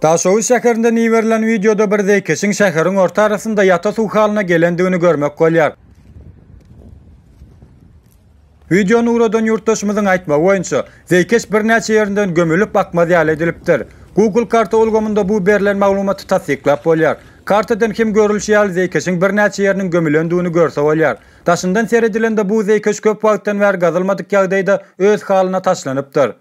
Daşoguz şäherinden iberilen wideoda bir zeýkeşiň şäheriň orta arasynda ýata suw halyna gelendigini görmek bolýar. Wideony ugradan ýurtdaşymyzyň aýtmagy boýunça, zeýkeş birnäçe ýerinden gömülip akmaz ýaly edilipdir. Google karta ulgamynda bu berlen maglumaty tassyklap bolýar. Kartadan hem görülişi ýaly zeýkeşiň birnäçe ýeriniň gömülendigini görse bolýar. Daşyndan seredilende bu zeýkeş köp wagtdan bäri gazylmadyk ýagdaýda öz halyna taşlanypdyr.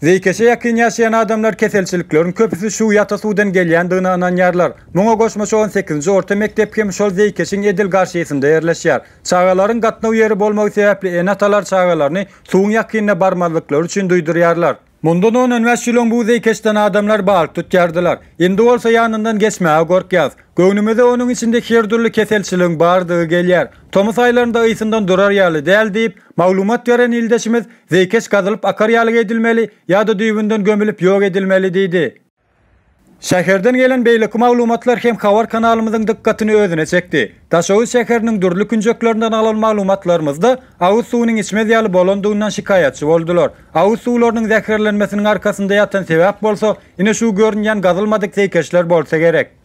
Zeýkeşe ýakyn ýaşaýan adamlar keselçilikleriň köpüsi şu ýata suwdan gelýändigine ynanýarlar. Muňa goşmaça on sekizinji orta mekdep hem şol zeýkeşiň edil garşysynda ýerleşýär. Çagalaryň gatnaw ýeri bolmagy sebäpli ene-atalar çagalaryny suwuň ýakynna barmazlyklary üçin duýdurýarlar. Mundan on on bäş ýyl öň bu zeýkeşden adamlar balyk tutýardylar. Indi bolsa ýanyndan geçmäge gorkýas. Göwnümize onuň içinde her dürli keselçiligiň bardygy gelýär. Tomus aýlarynda ysyndan durar ýaly däl diýip, maglumat beren ildeşimiz, zeýkeş gazylyp akar ýaly edilmeli ýa-da düýbünden gömülip ýok edilmeli diýdi. Şäherden gelen beýleki maglumatlar hem habar kanalymyzyň dykgatyny özüne çekdi. Daşoguz şäheriniň dürli künjeklerinden alan maglumatlarymyzda agyz suwunyň içmez ýaly bolandygyndan şikaýatçy boldular. Agyz suwlarynyň zäherlenmesiniň arkasynda ýatan sebäp bolsa, ine şu görünýän gazylmadyk zeýkeşler bolsa gerek.